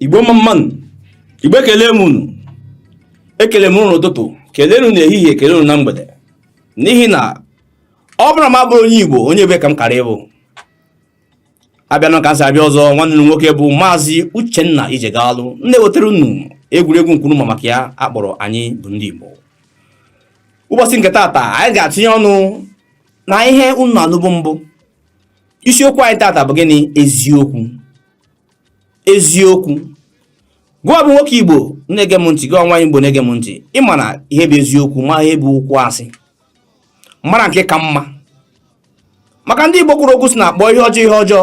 igbo mma mma nụ igbo ekele m unu ekele m unu n'ụtụtụ kelee unu n'ehihie kelee unu na mgbede n'ihi na ọ bụrụ na m abụrọ onye igbo onye ebee ka m kara ịbụ abịanụ ka m si abịa ọzọ nwanne unu nwoke bụ maazị uchenna ijegalụ na-ewetara unu egwuregwu nke unu ma maka ya a kpọrọ anyị bụ ndị igbo ụbọchị nke tata anyị ga-atinye ọnụ na ihe unu anụbu mbụ isiokwu anyị tata bụ gịnị eziokwu eziokwu gị nwa bụ nwoke igbo na-ege m ntị gị nwa igbo na-ege m ntị ịmara ihe bụ eziokwu ma ihe bụ okwu asị mara nke ka mma maka ndị Igbo kwuru okwu sị na a kpọọ ihe ọjọọ ihe ọjọọ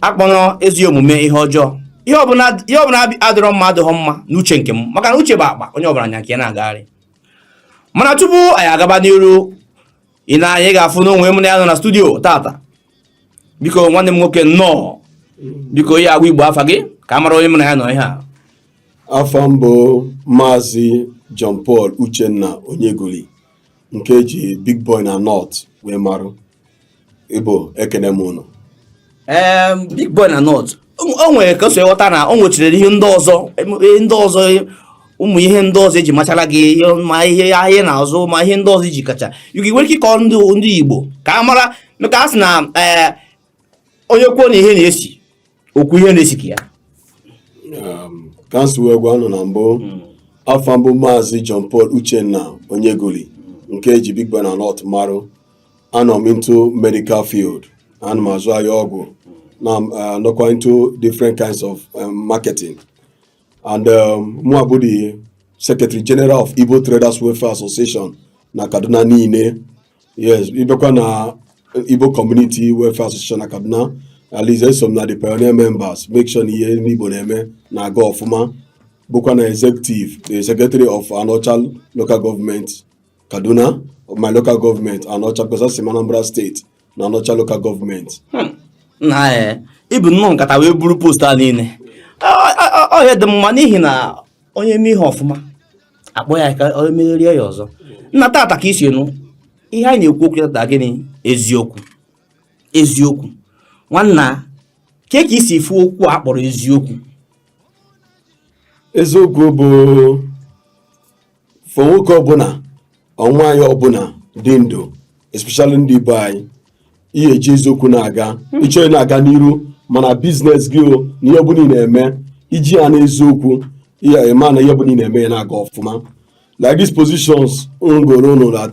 akpọna ezi omume ihe ọjọọ ihe ọbụla adịrọ mma adịghọ mma n'uche nke m maka na uche bụ akpa onye ọbụla nya nke ya na-agagharị mana tupu anyị agaba n'iru i nee anya ị ga-afụnụ onye m na ya nọ na studio tata biko nwanne m nwoke nnọọ biko ị ya-agwa igbo afa gị ka a mara onye m na ya nọ ihe a afa m bụ maazị John Paul Uchenna Onyegoli nke eji Big Boy na North wee marụ Igbo ekene m unu Em, big boy na north o nwere ka m si ghọta na o nwechirere ihe ndị ọzọ ndị ọzọ ụmụ ihe ndị ọzọ eji machara gị ma ihe ahịa ị na-azụ ma ihe ndị ọzọ iji kacha gị nwere ike ịkọ ndị ndị Igbo ka a mara maka a sị na eh, onye kwuo na ihe na-esi o kwuo ihe na-esi ka ya um, ka m si wee gwa unu na mbụ hmm. afa m bụ maazị John Paul Uchenna Onyegoli nke eji Big Boy na North marụ anọ m into medical field ana m azụ ahịa ọgwụ na uh, nọkwa into different kinds of um, marketing and um, mụ bụ the secretary general of Igbo Traders Welfare Association na Kaduna niile yes ị bịakwa na Igbo Community Welfare Association na Kaduna at least eso m na the pioneer members make sure na ihe ndị Igbo na-eme na-aga ọfụma bụkwa na executive the secretary of Anaocha local government Kaduna my local government anaọcha because esi m Anambra steeti na anaọcha local government hmm. nnaa eh, i bu nnọọ nkata wee buru post a niile ọ ihe dị mma n'ihi na onye mee ihe ọfụma a kpọọ ya ka ọ megharịa ya ọzọ nna tata ka i si nụ ihe anyị na-ekwu okwu tata gịnị eziokwu eziokwu nwanna kee ka i si fụ okwu a kpọrọ eziokwu eziokwu bụ for nwoke ọbụla or nwaanyị ọbụla dị ndụ especially ndị Igbo anyị ị ya-eji eziokwu na-aga ị chọọ ịna-aga n'iru ma na business gị o na ihe ọbụla ị na-eme i ji ya n'eziokwu ị ya-ama na ihe ọbụla ị na-eme ya na-aga ọfụma like these positions m gụọrọ unu that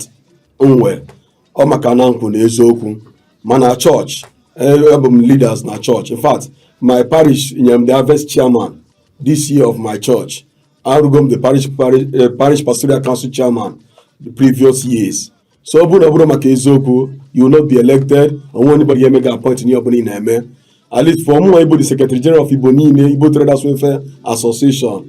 m nwe ọ maka na m kwụ na eziokwu ma na church abụ m leaders na church in fact my parish nyere m the harvest chairman this year of my church arụgo m the parish parish eh, parish pastoral council chairman the previous years so ọ bụrụ na ọ bụrọ maka eziokwu you will not be elected o nwe anybody ga-eme gị appoint n'ihe ọbụla ị na-eme at least for mụnwa ịbụ the secretary general of igbo niile igbo traders welfare association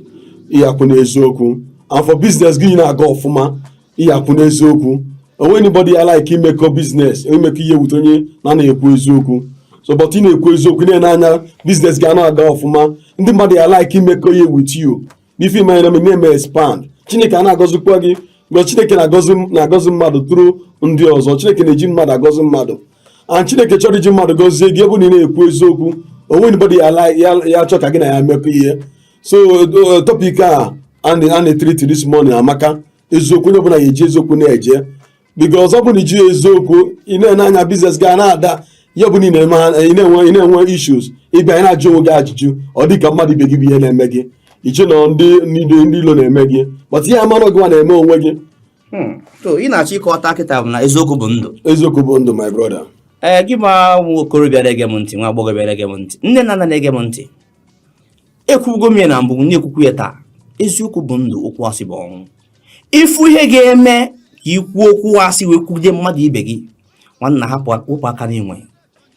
ị ya-akwụ n'eziokwu and for business gị ịna-aga ọfụma ị ya-akwụ n'eziokwu o nwe anybody ya like imekọ business imekọ ihe with onye na-anaghị ekwu eziokwu so but ị na-ekwu eziokwu na-ene anya business gị ana-aga ọfụma ndị mmadụ ya like imekọ ihe with you n'ife ime anya na-eme expand chineke ana-agọzikwa gị mgbe chineke na-agọzi mmadụ through ndị ọzọ chineke na-eji mmadụ agọzi mmadụ and chineke chọrọ iji mmadụ gọzie gị ebe na ị na-ekwu eziokwu o nwe anybody ya-achọ ka gị na ya mekọ ihe so uh, topic a a na-etreat this morning amaka eziokwu onye ọbụla ga-eji eziokwu na-eje because ọ bụ na iji eziokwu ị na-ene anya business gị ana-ada ihe ọbụla ị na-enwe issues ị bịa na-ajụ onwe gị ajụjụ ọ dị ka mmadụ ibe gị bụ ihe na-eme gị i chee na ndị ndị ilo na-eme gị but ị ya-ama na ọ gịnwa na-eme onwe gị hmm. ihe m na-achọ ịkọta kịta bụ na eziokwu bụ ndụ eziokwu bụ ndụ my brother ee eh, gịnwa nwa okorobịa na-ege m ntị nwa agbọghọbịa na-ege m ntị nne na nna na-ege m ntị ekwugo m ya na mbụ na-ekwukwu ya taa eziokwu bụ ndụ okwu asị bụ ọnwụ ị fụ ihe ga-eme ka i kwuo okwu asị wee kwugide mmadụ ibe gị nwanna hapụ wepụ aka enwe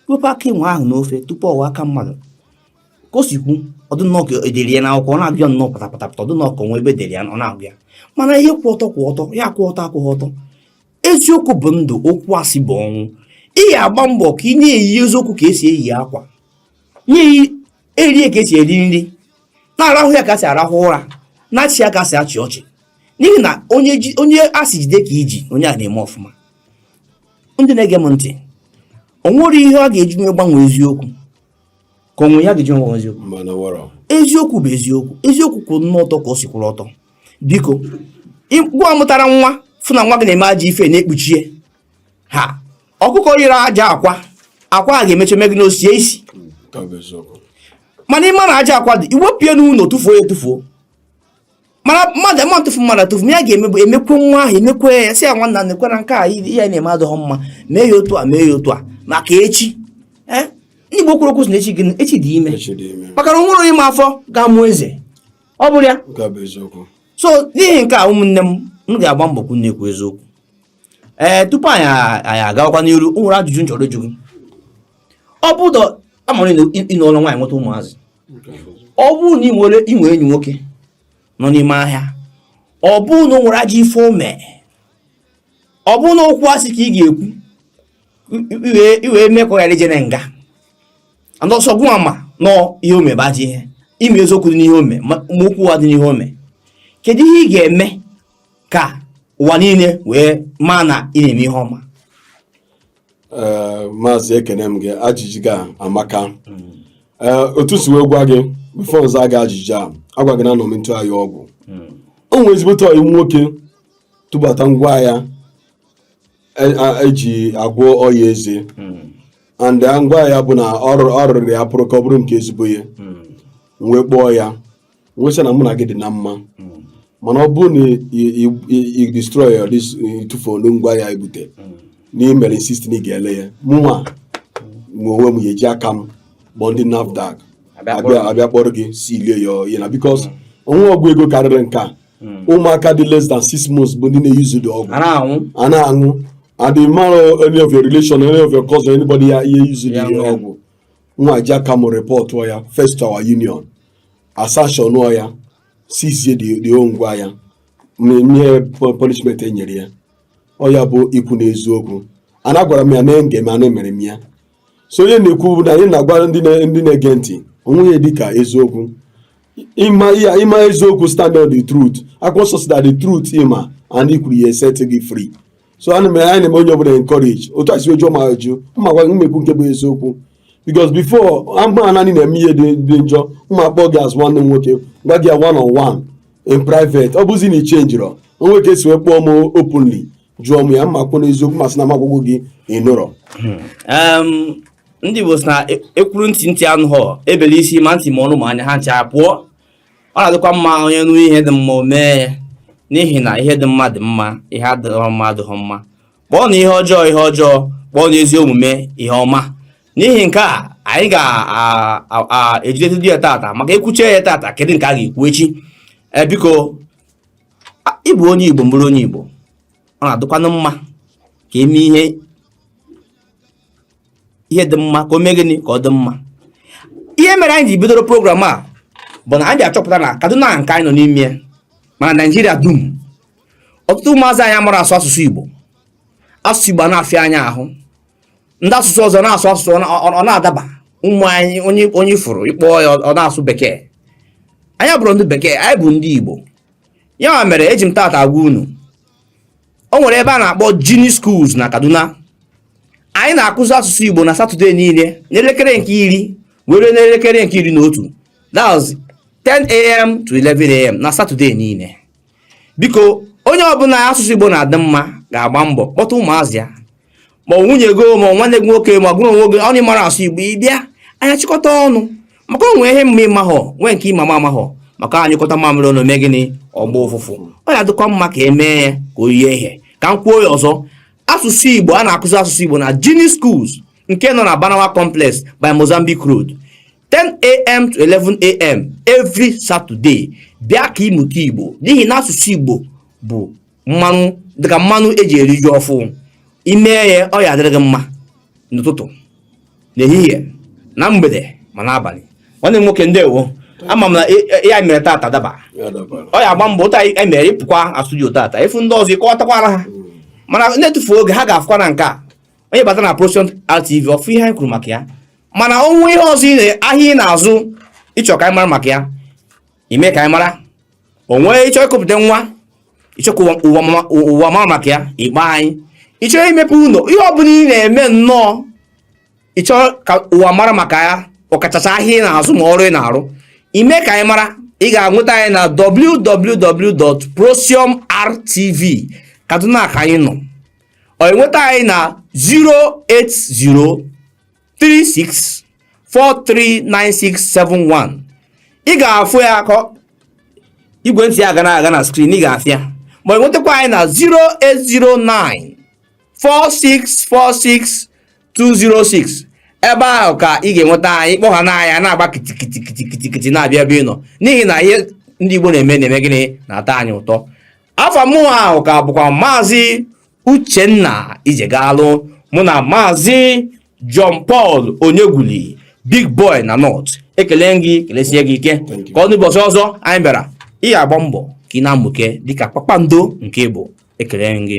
wepụ aka enwe ahụ n'ofe tupu ọ ghọọ aka mmadụ ka o si kwu ọ dị nnọọ ka e dere ya n'akwụkwọ ọ na-abịa nnọọ patapatapata ọ dị nnọọ ka o nwe ebe e dere ya ọ na-agụ ya mana ihe kwụ ọtọ kwụ ọtọ ihe akwụghị ọtọ akwụghị ọtọ eziokwu bụ ndụ okwu asị bụ ọnwụ ị ga-agba mbọ ka ị na-eyi eziokwu ka esi eyi akwa na-eri ya ka esi eri nri na-arahụ ya ka esi arahụ ụra na-achị ya ka esi achị ọchị n'ihi na onye onye a sị jide ka i ji onye ahụ na-eme ọfụma ndị na-ege m ntị o nwere ihe a ga-eji wee gbanwee eziokwu ka o nwe ihe a ga-eji wee eziokwu eziokwu bụ eziokwu eziokwu kwụ nnọọ ọtọ ka o si kwụrụ ọtọ biko gịnwa mụtara nwa fụ na nwa gị na-eme ajọ ife na-ekpuchie ha ọkụkọ yiri ajọ akwa akwa a ga-emecha mee gịnị osie isi mana ịma na ajọ akwa dị iwepụ ya n'ụlọ tụfuo ya tụfuo mana mmadụ ma ntụfu mmadụ atụfu ya ga-emekwe emekwe nwa ahụ emekwe ya sị ya nwanna nekwa na nke a ị na-eme adịghị mma mee ya otu a mee ya otu a maka echi eh? ndị Igbo kwuru okwu sị na echi gị echi dị ime maka na onwerọ onye ma afọ ga-amụ eze ọ bụrụ ya so n'ihi nke a ụmụnne m m ga-agba mbọ kwu na-ekwu eziokwu ee tupu anyị anyị agawakwa n'iru o nwere ajụjụ m chọrọ ịjụ gị ọ bụ ụdọ amara ịnụọla nwaanyị nweta ụmụazị ọ bụrụ na ị nwere enyi nwoke nọ n'ime ahịa ọ bụrụ na o nwere ajọ ife o me ọ bụrụ na okwu asị ka ị ga-ekwu i wee mee ka ọ ghara ije na nga and ọ sọ gụnwa ma na ihe o me bụ ajọ ihe ịma eziokwu dị n'ihe o me ma okwu ụgha dị n'ihe o me kedu ihe ị ga-eme ka ụwa niile wee maa na ị na-eme ihe ọma eh, maazị ekene m gị ajụjụ gị amaka eh, otu m si wee gwa gị before m zaa gị ajụjụ a agwa gị na anọ m n'otu ahịa ọgwụ o nwere ezigbote ọyị nwoke tụbata ngwa ahịa eji agwọ ọya eze hmm. and ngwa ahịa bụ na ọ rụrụ ya pụrụ ka ọ bụrụ nke ezigbo ya hmm. m wee kpọọ ya wee sị ya na mụ na gị dị na mma hmm. mana ọ bụrụ na ị destroy ịtụfurọ ngwa ahịa i bute hmm. na ị mere insist na ị ga-ele ya mụnwa nwe onwe m ya-eji aka m kpọọ ndị NAFDAC abịa kpọrọ gị silie ya ọyị na because hmm. onwe ọgwụ ego karịrị nke a ụmụaka dị less than six months bụ ndị na-eyuzu the ọgwụ a na-aṅụ and ị marọ if any of your relation any of your cousin anybody ya-eyuzu the ọgwụ mụnwa ji aka m repọtụọ ya first to our union a sanctionụọ ya sizie the ngwa ahịa nye punishment e nyere ya ọ ya bụ ikwu n'eziokwu ana gwara m ya na enge m ana emere m ya so ihe anyị na-ekwu bụ na anyị na-agwa ndị na-ege ntị onweghị ihe dị ka eziokwu ịma eziokwu stand on the truth akwụkwọ nsọ sị that the truth ịma and ikwuru ya-eset gị free so ana m anyị na-eme onye ọbụla encourage otu a sị ọ jụọ m ajụ mma gwa gị m ekwu nke bụ eziokwu because before a ma na ị na-eme ihe dị dị njọ mụ akpọọ gị as nwanne m nwoke gwa gị ya one on one in private ọ bụzi na i chenjirọ o nwee ka e si wee kpọọ m openly jụọ m ya m akwụ n'eziokwu m asị na m agwago gị ịnụrọ Em, ndị Igbo sị na e- ekwuru ntị ntị anụghọ e bele isi ma ntị ma ọnụ ma anya ha ncha pụọ ọ na-adịkwa mma onye nụ ihe dị mma o mee ya n'ihi na ihe dị mma dị mma ihe adịghị mma adịghị mma kpọọnụ ihe ọjọọ ihe ọjọọ kpọọnụ ezi omume ihe ọma n'ihi nke a anyị ga-ejidetụdị ya tata maka e kwuchaa ya tata kedu nke a ga-ekwu echi ee biko ị bụ onye igbo m bụrụ onye igbo ọ na-adịkwanụ mma ka e mee ihe ihe dị mma ka o mee gịnị ka ọ dị mma ihe mere anyị ji bidoro program a bụ na anyị achọpụta na Kaduna nke anyị nọ n'ime ya ma na Naijiria dum ọtụtụ ụmụazị anyị amarọ asụ asụsụ Igbo asụsụ Igbo na-afịa anyị ahụ ndị asụsụ ọzọ na-asụ asụsụ ọ na-adaba ụmụ anyị onye onye ị fụrụ ị kpọọ ya ọ na-asụ bekee anyị abụrọ ndị bekee anyị bụ ndị Igbo ya mere eji m taata agwa unu o nwere ebe a na-akpọ jinie schools na kaduna anyị na-akụzi asụsụ igbo na satọde niile n'elekere nke iri were n'elekere nke iri na otu that's 10am to 11am na satọde niile biko onye ọbụla asụsụ igbo na-adị mma ga-agba mbọ kpọta ụmụazị ya ma ọ nwunye gị ma nwanne gị nwoke ma gụrụ onwe gị ọnụ mara asụ igbo ị bịa anyị achịkọta ọnụ maka o nwe ihe m ma ị mahọ nwee nke ị ma m amahọ maka a nyụkọta mamịrị ọnụ mee gịnị ọ gbaa ụfụfụ ọ ya adịkwa mma ka e mee ya ka o yie ihe ka m kwuo ya ọzọ asụsụ igbo a na-akụzi asụsụ igbo na jinie schools nke nọ na barnawa complex by mozambique road 10am to 11am every saturday bịa ka ị mụta igbo n'ihi na asụsụ igbo bụ mmanụ dịka mmanụ e ji eri ji ọfụụ i mee ya ọ ya adịrị gị mma n'ụtụtụ n'ehihie na mgbede ma n'abalị nwanne m nwoke ndewo ama m na ya mere tata daba ọ ya agba mbọ ụta anyị mere ị pụkwa studio tata ị fụ ndị ọzọ ị kọwatakwara ha hmm. mana na-etufu oge ha ga-afụkwa na nke a onye bata na Procyon TV ọ fụ ihe anyị kwuru maka ya mana o nwee ihe ọzọ ahịa ị na-azụ ị chọọ ka anyị mara maka ya i mee ka anyị mara o nwee ị chọọ ikuputa nwa ị chọọ ka ụwa mara maka ya ị kpọọ anyị ị chọọ imepe ụlọ ihe ọ bụla ị na-eme nnọọ ị chọọ ka ụwa mara maka ya ọkachasị ahịa ị na-azụ ma ọrụ ị na-arụ i mee ka anyị mara ị ga-enweta anyị na www.procyonrtv kaduna ka anyị nọ ọ enweta anyị na 080 36439671 ị ga-afụ ya ka igwe ntị a ga na-aga na screen ị ga-afụ ya ma enwetakwa anyị na 0809 4646 206 ebe ahụ ka ị ga-enweta anyị kpọ ha na anyị na-agba kitikitikitikitikiti na-abịa ebe ị nọ n'ihi na ihe ndị Igbo na-eme na-eme gịnị na-atọ anyị ụtọ afa mụnwa ahụ ka bụkwa maazị Uchenna Ijegalụ mụ na Maazị John Paul Onyegwuli Big Boy na North ekele gị kelesie gị ike ka ọ n'ụbọchị ọzọ anyị bịara ị ga-agba mbọ ka ị na-amụke dịka kpakpando nke ị bụ ekele m gị